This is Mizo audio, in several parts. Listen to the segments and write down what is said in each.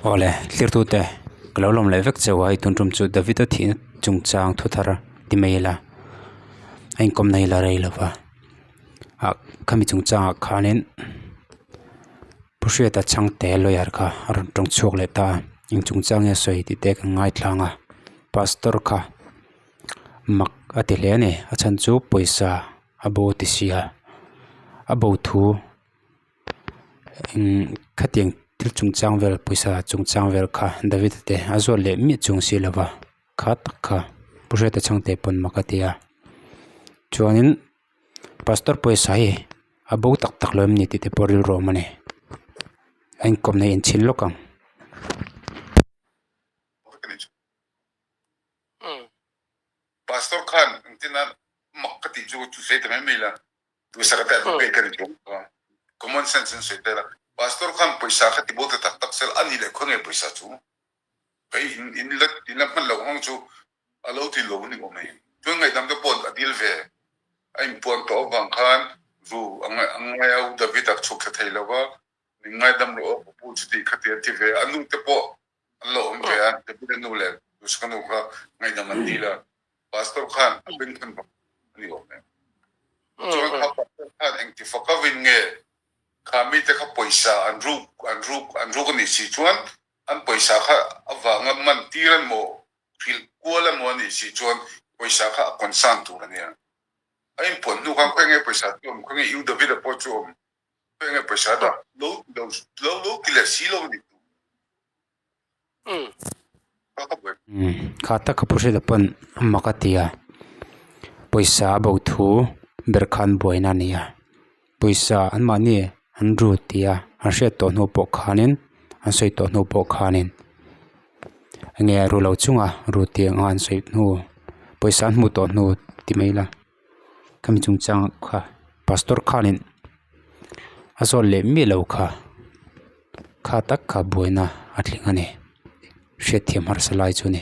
Awle tlirtute ka lo lawm leh vek che a, i tun tum chu David-a thihna chungchang thu thar ti mai ila a inkawm na hi la rei lova ah khami chungchangah khanin pu hriata chhangte lawyer kha a rawn tawng chhuak leh ta a, eng chungchang nge a sawi tih te kan ngaithlang a, pastor kha mak a ti hle a ni a chhan chu pawisa a bo ti sia a bo thu khatiang thil chungchang vel pawisa chungchang vel kha David te a zawt leh miah chung si lova kha tak kha Buhriat a chhangte pawn maka a ti a chuanin pastor pawisa hi a bo tak tak lo em ni tihte pawh rilru a awm a ni a inkawmna hi a inthin lawk ang. Puisaka te an pei te ni thung a, common sense an sawi tel a, Pastor khan pawisa kha tibawltu tak tak sel a nih leh khawi nge pawisa chu? Hei in in la in la hman loh hang chu a lo ti lo ni awm e, chuan ngaihdam te pawh a dil ve a in puan tawh avang khan ru a ngai a ngai a u David a chhuk thla thei lo va min ngaidam rawh a ka pu chu tih kha ti a ti ve a, a nu te pawh An lo awm ve a, David-a nu leh Joseph-a nu kha ngaihdam an dil a, Pastor khan a peng than vang a ni awm e. Chuan kha Pastor khan engtifa ka vin nge kha mite kha pawisa an ruk an ruk an ruk a nih si chuan an pawisa kha avanga man tir an maw hrilh kual an maw a nih si chuan pawisa kha a concern tur a nia. A inpuan hnu khan khaw enge pawisa chu awm khaw nge iu David-a pawh chu awm Enge paisa dah lo ti lo lo lo ti leh si lo ni tu ka ka buai. Kha taka pu hrilh a pawn mak a tia pawisa a bo thu ber kha an buaina a ni a pawisa an mahni an ru tia an hriat tawh hnu pawh khanin an sawi tawh hnu pawh khanin enge ru lo chunga ru tia nga an sawi hnu pawisa an hmu tawh hnu ti mai ila. khami chung changa kha pastor khanin a zawt leh miah lo kha kha tak kha buaina a tling a ni hriatthiam harsa lai chu a ni.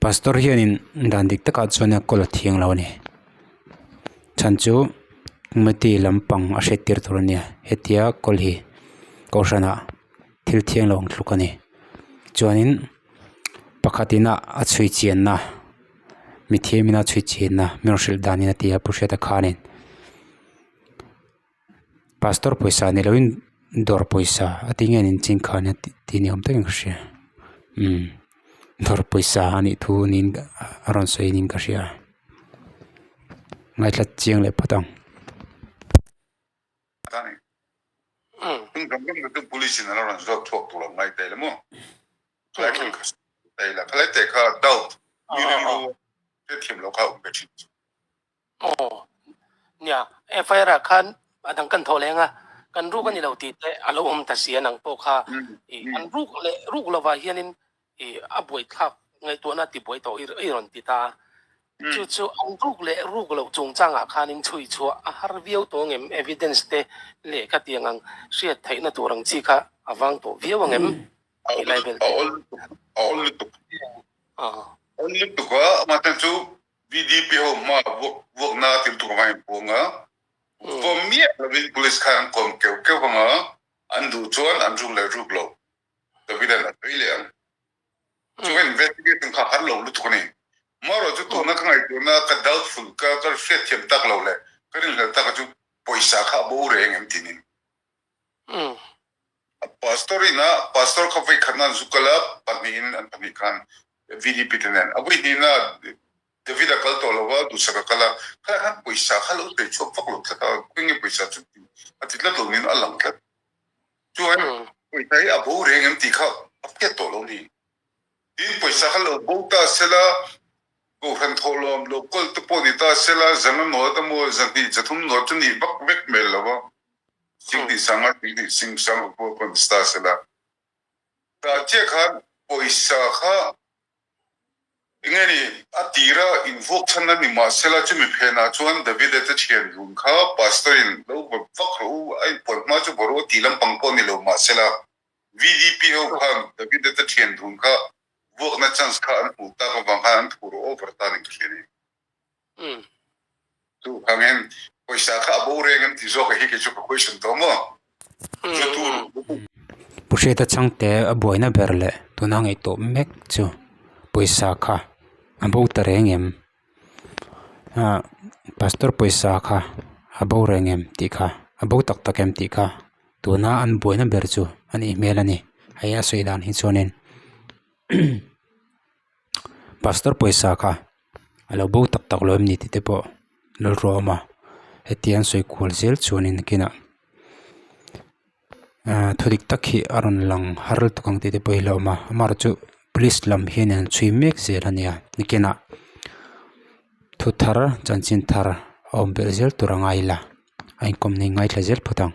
Pastor hianin dan dik takah chuan a call a thiang lo a ni, chhan chu committee lampang a hre tir tur a nia, hetia call hi kohhranah thil thiang lo ang thluk a ni, chuanin pakhat ina a chhui chianna, mithiam ina chhui chianna, mi rawh hrilh dan ina ti a, Puhriat a khanin. Pastor pawisa ni loin dawr pawisa a ti ngen in chin kha ania tih tih ni awm takin ka hria dawr pawisa a nih thu niin a rawn sawi niin ka hria ngaihlat chiang leh phawt ang. Aw nia FIR ah khan a dang kan thawh leng a, kan ruk a ni lo tih te a lo awm ta si a, nang pawh kha ih an ruk leh ruk lo vah hian in ih a buai thlak ngaihtuahna ti buai tawh i rawn ti ta a, chu chu an ruk leh ruk loh chung chang ah khan in chhui chhuah a har viau tawng em evidence te leh ka tiang ang hriat theih na tur ang chi kha a vang tawh viau ang em? A awl lutuk, a awl lutuk, a awl lutuk a, a awm atan chu DDP ho hma vuakna tir tur nga in puang a, vuam miah lovin police khan kawn keu keu anga an duh chuan an ruk leh ruk lo Davidan a vei leh ang. Chuan investigation kha har lo lutuk a ni. Marawh chu tuna ka ngaihtuahna ka doubtful, ka hriat thiam tak lo leh ka rinhlel taka chu pawisa kha a bo reng em tinin. Umm. Pastor in a pastor kha vawi khatna an zuk kal a, pahnih in an pahnih khan VDP te nen a vawi hnin a, David a kal tawh lo va, Duhsak a kal a, khalai khan pawisa kha lo tei chhuak vak lo tlat a, khawi nge pawisa chu tih a ti tlat lo nin a lang tlat. Chuan pawisa hi a bo reng em tih kha a fiat tawh lo ni. Tiin pawisa kha lo bo ta sel a, Kohhran thawhlawm lo kawl te pawh ni ta sel a, Zanga nual te maw, Zahnih Zathum nual chu ni vak vek hmel lo va. Thing tih sang a thing tih sing sang ka pawh pawn star se la tah chiah khan pawisa kha enge ni a tira in vuak chhan a ni mah se la chumi phen ah chuan Davide te thian dun kha pastor in lo vawt vak rawh u a in puan hma chu vawrh u a tih lampang pawh a ni lo mah se la VDP ho khan Davide te thian dun kha vuak na chance kha an hmuh tak avang khan an thu rawh u Vartan in ka hriat i. Duh kang em, pawisa kha a bo reng em tih zawk a hi kei chu ka question tawh maw? Chu tu Lutuk. Pu Hriata changte a buaina ber leh tuna a ngeihtawp mek chu pawisa kha a bo ta reng em? Pastor pawisa kha a bo reng em tih kha, a bo tak tak em tih kha tuna an buaina ber chu a nih hmel a ni. Hei a sawi dan hi chuan in. pastor pawisa kha a lo bo tak tak lo em ni tihte pawh rilru a awm a heti an sawi kual zel chuan in a kinah aaa thudik tak hi a rawn lang har lutuk tak ang tihte pawh hi a lo awm a amarawhchu chu police lam hian a han chhui mek zel a nia nikinah thu thar chanchin thar a awm tel zel tur a ngai ila a inkawmna hi a ngaithla zel phawt ang.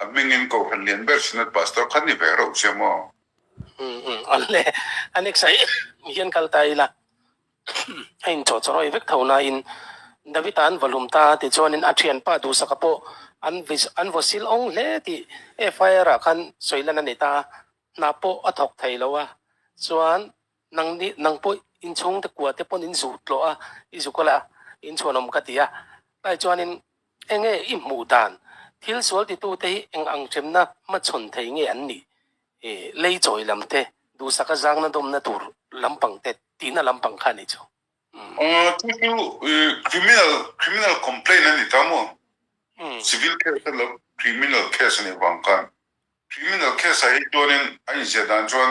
A hmingin kohhran lian ber Synod Pastor khan i ve reuh che maw? Umm umm, awle. A next a hian kal ta ila a inchawhchawhrawi vek tho nain, Davita an vawlhum ta tichuanin a thianpa duhsaka pawh an an vaw sil awng hle tih FIR-ah khan sawilan a ni ta. Hna pawh a thawk thei lo a, chuan Nang nih nang pawh inchhungte kuate pawn in zuh tlawh a, i zuk ala, in chhuanawm ka ti a. Pai chuanin, Enge i hmuh dan? Thil sual titute hi eng ang ṭemna hmachhawn thei nge an nih? Lei chawi lam te, duhsaka zangna dawmna tur lampang te, tihna lampang kha a nih chu. Chu chu criminal, criminal complaint a ni ta maw? Civil case a lo, criminal case a nih vang khan, criminal case-ah hi chuanin a inziah dan chuan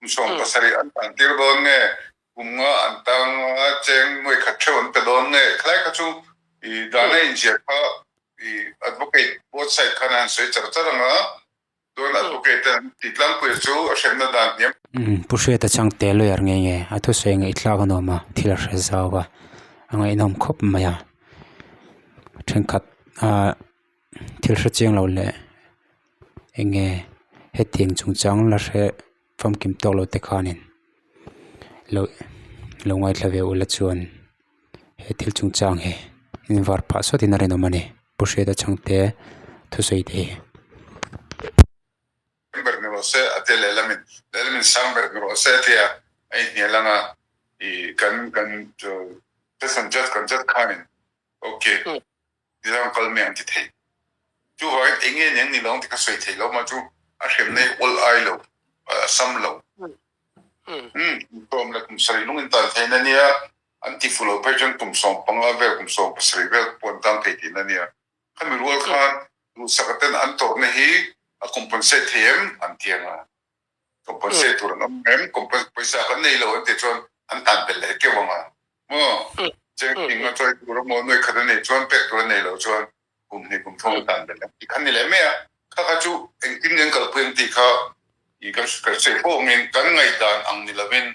Kum sawm pasarih an kan tir dawn nge? Kum nga an tang a cheng nuaikhat theuh an pe dawn nge? Khlai kha chu i dana inziak kha i advocate both side khan an sawi char char ang a, chuan advocate te an ti tlangpuia chu a hremna dan hniam. Pu Hriata Changte lawyer ngei nge? A thusawi ngaihthlak a nuam a, thil a hre zau a, a ngaihnawm khawp mai a, thenkhat a thil hre chiang lo leh eng nge hetiang chung chang la hre famkim tawk lo te khanin lo lo ngaithla ve ula chuan he thil chung chang hi invar phah sawt in a rawn awm a ni bu hriat a chhang te thusawi te hi. Niloin kal mi ang ti theih. Chuvangin enge nia nilo ti kha sawi theih lo mah chu a hremna hi awl ai lo, a sam lo. Umm, Kum leh kum sarih lungin tan theihna nia, an ti fuh lo phei chuan kum sawm panga vel, kum sawm pasarih vel te pawh an tlang thei theihna nia. Kha mi rual khan luhsakaten an tawrhna hi a compensate thei em? An ti anga. Compensate tur an awm em? Compensate pawisa kan nei lo an tih chuan an tan belh leh keuh ang a maw? Chengthing a choi tur emaw nuai khat a nih chuan pek tur an nei lo chuan kum hnih kum thung an tan belh ang tih kha ni leh mai a. Kha kha chu engtin an kalpui ang tih kha kan hre fawngin kan ngaihdan ang ni lovin.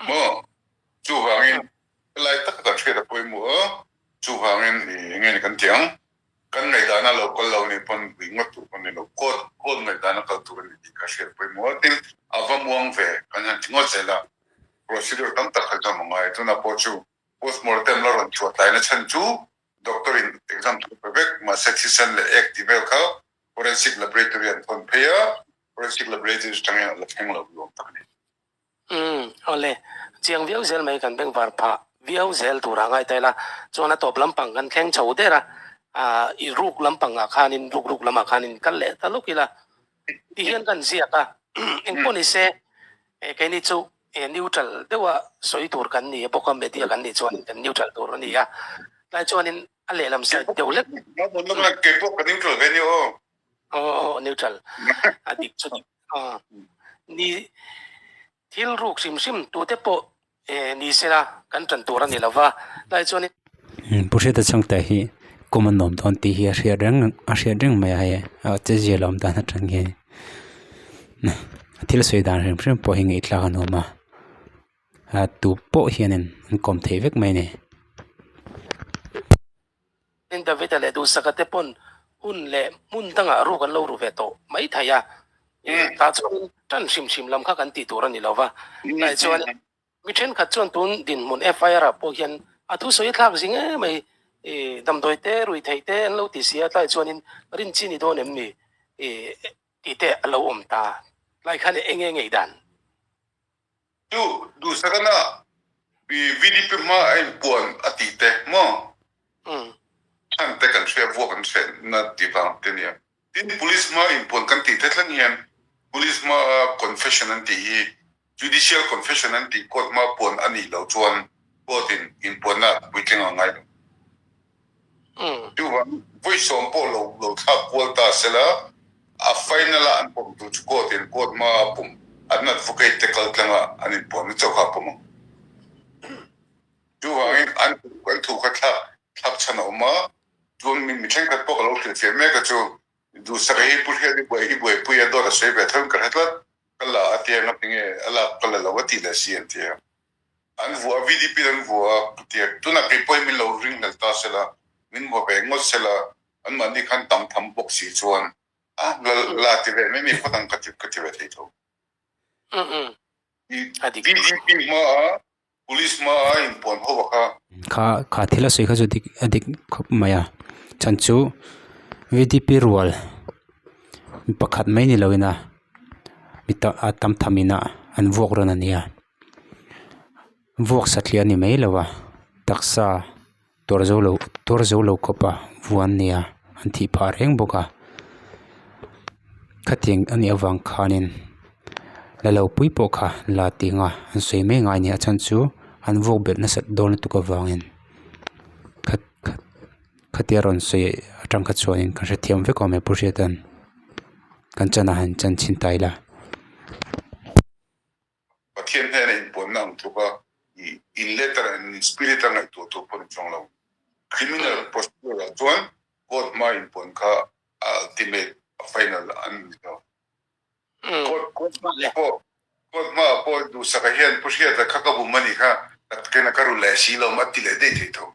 Maw? Chuvangin, Helai taka kan hriat a Pawimawh a, chuvangin i enge ni kan ti ang? Kan ngaihdanah lo kal lo nih pawn buih ngawt tur pawn ni lo, quote, quote, ngaihdanah kal tur a ni tih kan hriat a Pawimawh a, tin, a va muang ve, kan han ti ngawt zel a, procedure tam tak kha exam a ngai, tunah pawh chu postmortem la rawn chhuahtlaina chhan chu doctor in exam thawk ve vek, mahse thisen leh ek tih vel kha forensic laboratory an thawn phei a, Forensic Laboratories atangin a la thleng lo ni awm tak a ni. Umm, awle. Chiang viau zel mai kan bengvar phah viau zel tur a ngai ta ila, chuan a tawp lampang kan thleng chho der a, aah i ruk lampangah khanin, ruk ruk lamah khanin kal leh ta luk ila, ti hian kan ziak a, engpawh ni se, e keini chu e neutral deuha sawi tur kan ni bawk a, media kan nih chuan kan neutral tur a ni a, tlai chuanin a lehlam side deuh lek. Keipawh ka neutral ve ni aw. Aww neutral a dik chu dik a ni thil ruk hrim hrim tute pawh eh ni sela kan tan tur a ni lova tlai chuan in pu hreta chhung te hi common nawm dawn tih hi a hriat reng a hriat reng mai a hei a che zia lawm dan atang hian thil sawi dan hrim hrim pawh hi ngeihthlak a nuam a a tu pawh hian in an kawm thei vek mai a ni. Tin Davida leh duhsakha te pawn hun leh hmun dangah ruk an lo ru ve tawh mai thei a, tah chuan tan hrim hrim lam kha kan tih tur a ni lo va, tlai chuan mi thenkhat chuan tun dinhmun FIR ah pawh hian a thu sawi thlak zing em mai, damdawi te rui thei te an lo ti si a, tlai chuanin rin chi ni dawn em ni tih te a lo awm ta, tlai khan eng nge a ngei dan? Chu duhsakana i VDP hma a inpuan a tih te maw? Thlan te kan hria vuah kan hreh na tih vang te nia. Tin Police hma inpuan kan tih te thleng hian Police hma a confession an tih hi Judicial confession an tih Court hma puan a nih lo chuan Court in inpuan na puitling ang ngai lo. Duh ah vawi sawm pawh lo lo thlak kual ta se la, a final ah an pawm tur chu court in court hma a pawm an advocate te kal tlang ah an in puan na chauh kha a pawm ang. Chu vangin an an thu kha thlak thlak chhan a awm a, chuan mi mi thenkhat pawh ka lo hrilh fiah mek a chu Duhsakei hi pu hriat i buai hi buai pui a dawt a sawi ve tho in ka hre tlat, ka la a ti ang a tinge a lak ka la lo a tih leh si an ti ang. An vuah a, VDP-in an vuah a, ka ti a. Tunah kei pawhin min lo ring hmel ta se la, min vuah ve ngawt se la, anmahni khan tam tham bawk si chuan, a, la, la ti ve mai mi phawt ang ka ti, ka ti ve thei tho. VDP hmaa, Police hmaa in puan ho va kha. Kha, kha thil a sawi kha chu dik, a dik khawp mai a. Chhan chu VDP rual mi pakhat mai ni loin a, mi tam, a tam tham ina an vuak rawn a nia. Vuak sathlih a ni mai lo a, taksa tuar zo lo tuar zo lo khawpa vuan nia an tih phah reng bawk a, khatiang a nih avang khanin la lo pui pawh kha la tih nga an sawi mai ngai nia a chhan chu an vuak belh nasat dawn lutuk avangin kha kha khatia rawn sawi a tangkha chuanin ka hrethiam vek awm e pu hriat an, kan chhan ah hian chan chhin ta ila. Pathian hnena inpuanna ang tluk a, i in letter ah in spirit a ngaihtuah tur pawn a chuang lo. Criminal procedure ah chuan court hma inpuan kha a ultimate, a final an ni hlo. Court court hma ah pawh duhsakah hian pu hriata kha ka bum a nih kha, ka kena ka ru leh si lawm a ti leh daih thei tho.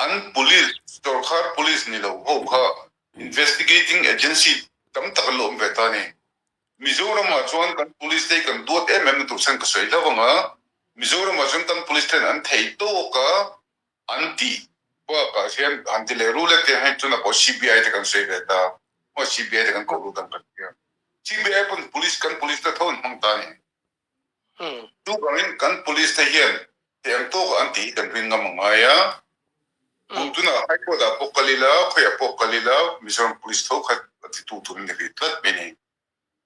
An police, Chawrkhar police ni lo ho kha investigating agency tam tak an lo awm ve ta ni. Mizoramah chuan kan police te hi kan duat em em na tur sen ka sawi hla vang a, Mizoramah chuan kan police ten an thei tawk a an ti bakah hian han ti leh ru let te hian tuna pawh CBI te kan sawi ve ta, mahse CBI te kan koh lut ang ka ti a, CBI pawh police kan police te tho an hmang ta ni. Chu bangin kan police te hian heng tawka an tih hi kan ring ngam a ngai a. Hmuh tunah High Court ah pawh ka lil a, khawiah pawh ka lil a, Mizoram police tho khat a ti tu tur a ni rih tlat mai ni.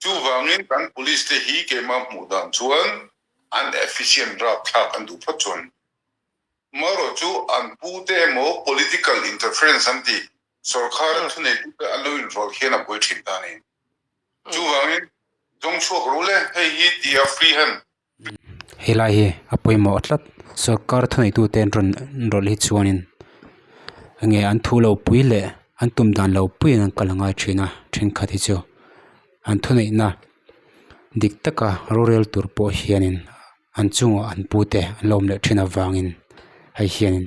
Chu vangin kan police te hi keimah hmuh dan chuan an efficient rap thlak an duh phawt chuan. Amaherawhchu an pu te emaw political interference an tih Sorkara thuneihte te an lo inrual hian a buai thin ta a ni. Chuvangin zawng chhuak ru le hei hi ti a free han. Helai hi a pawimawh tlat. Sorkara thuneihtu te an rawn inrawlh hi chuanin enge an thu lo pui leh an tum dan lo puiin an kal a ngai thin a. Thenkhat hi chu an thuneihna dik taka rorel tur pawh hianin an chungah an pute an la awm leh thin avangin hei hianin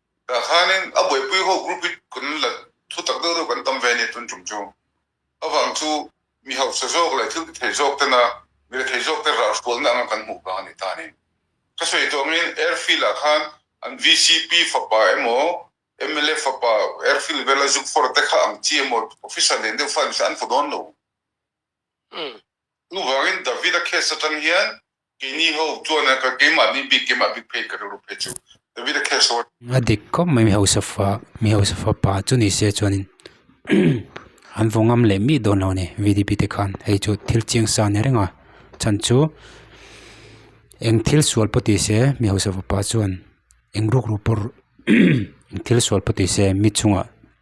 Tah khanin a buaipui ho group hi kan la thu tak deuh deuh kan tam ve a ni tun tum chu. Avang chu mi hausa zawk leh thil ti theih zawk tena mi la thei zawk te rah hrualna anga kan hmuh vang a ni ta ni. Thusawi tuamin airfield ah khan an VCP fapa emaw mla fapa airfield vela zuk fawrh te kha ang chi emaw officer len deuh fai mi kha an hmu dawn lo. Chuvangin Davida case atang hian keini ho chuan a ka keimah ni bik keimah bik phei ka rilru phei chu Davida case ho a. A dik khawp mai mi hausa fa mi hausa fa pa chu ni se chuan in an vaw ngam leh miah dawn lo ni VDP te khan hei chu thil chiang sa ania renga chhan chu eng thil sual pawh tih se mi hausa fapa chuan eng ruk ru pawh eng thil sual pawh tih se mi chungah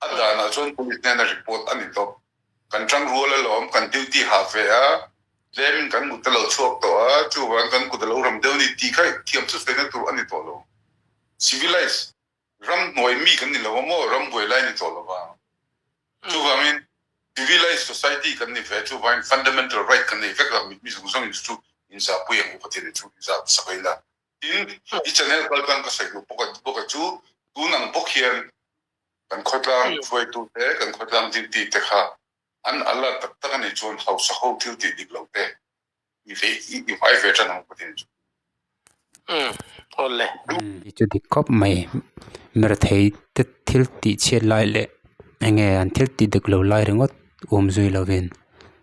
A danah chuan police hnena report a ni tawh. Kan tang rual alawm, kan duty hah ve a, tlemin kan mut a lo chhuak tawh a, chuvang kan kut a lo ram deuh ni tih kha thiam thusawiina tur a ni tawh lo. Civilized ram hnuai mi kan ni lo a maw, ram buai lai a ni tawh lova. Chuvangin civilized society kan ni ve a, chuvangin fundamental right kan nei vek lo a, mitmizung zawngin chu chu inzahpui ang upatiane chu inzah ta sak ain a, Tin, i channel kal tan ka sawi duh bawk a bawk a chu, tun ang bawk hian kan khawtlang hruaitute, kan khawtlang zintite kha an alert tak tak a nih chuan hausa ho thil tih dik lo te i ve i hmai ve tan ang Putin chu. Umm, aw le. Umm, i chu dik khawp mai. Mirthei te thil tih chhiat lai leh enge an thil tih dik lo lai ringawt um zui lovin.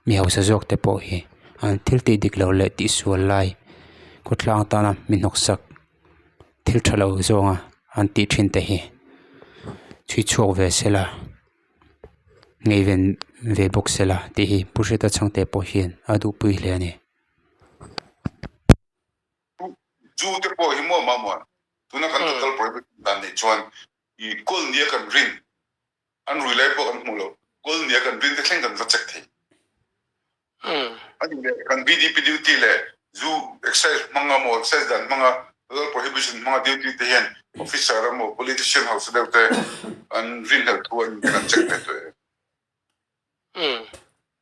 mi hausa zawk te pawh hi an thil tih dik loh leh tih sual lai khawtlang tana mi hnawksak thil tha lo zawnga an tih thin te hi chhui chhuak ve sela ngeiven ve bawk sela tih hi pu hreta chhangte pawh hian a duhpui hle a ni. An rui lai pawh kan hmuh lo. Goal nia kan rin te thleng kan va check thei. A nih leh kan BDP duty leh Zu excise hmanga maw excise dan hmanga Halal prohibition hmanga duty te hian officer a maw politician hausa deuh te an rin hlelh thu an kan check ve tawh em.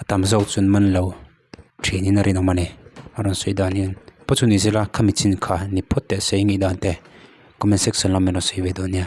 a tam zawk chuan man lo ṭhinin a rinawm a ni a rawn sawi dan hian paw chu ni zela khami chin kha ni phawt te sawi ngei dan te comment section lam miro sawi ve dawn nia.